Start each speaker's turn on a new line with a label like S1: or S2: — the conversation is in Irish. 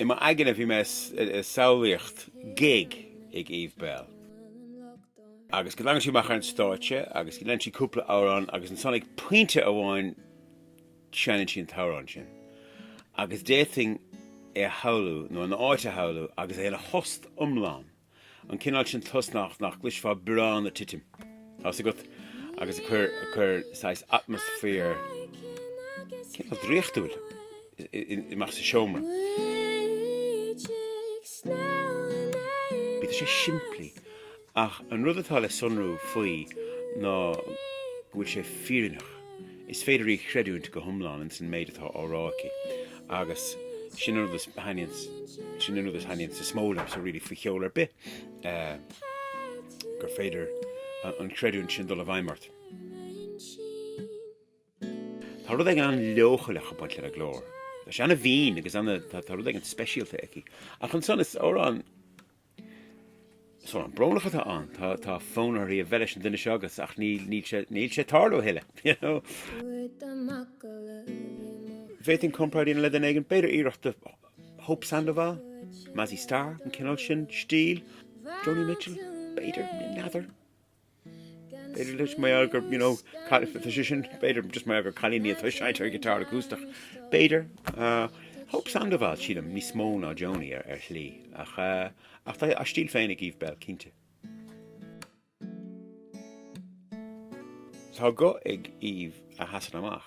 S1: I m'aigne bhí mé ag samhlaíocht gig ag Eve Belle agus go dtagann sí amach ar an stáitse agus go ndéanann sí cúpla amhrán agus ansan ag pointe amháin seineann sí an t-amhrán sin agus d'fhéadfainn é a shamhlú nó an áit a shamhlú agus é ana thost iomlán. An cineál sin tost nach gcloisfeá biorán ag titim agus agus ag cur saghas atmaisféar cineál draíochtúil amach sa seomra. Bíodh sé simplí ach an rud atá le sonrú faoi ná go bhfuil sé fírinneach. Is féidir í a chreidiúint go hiomlán ins an méid atá á rá aici agus sin an rud a thaitníonn is mó liomsa really faoi cheol ar bith eh, gur féidir an creidiúint sin dul i bhfeidhm ort. Tá rud éigin an-leochaileach ag baint lena glór. Tá sé ana mhín agus tá rud éigin speisialta aici. Ach ansan is amhrán an-bhrónach atá ann. Tá fonn uirthi a bheith leis an duine seo agus ach níl sé ag tarlú a thuilleadh, you know. Dá bhféadfainn comparáid a dhéanamh le duine éigin, b'fhéidir iarracht de Hope Sandoval, Mazzy Star, an cineál sin stíl, Joni Mitchell, b'fhéidir, n'fheadar. B'fhéidir leis mar gheall gur, you know, tá sé sin, b'fhéidir just mar gheall gur cailín í atá ag seinnt ar ghiotár acústach. B'fhéidir. Hope Sandoval, sílim, níos mó ná Joni ar shlí ach ach tá a stíl féin ag Eve Belle cinnte. Tá guth ag Eve a sheasann amach.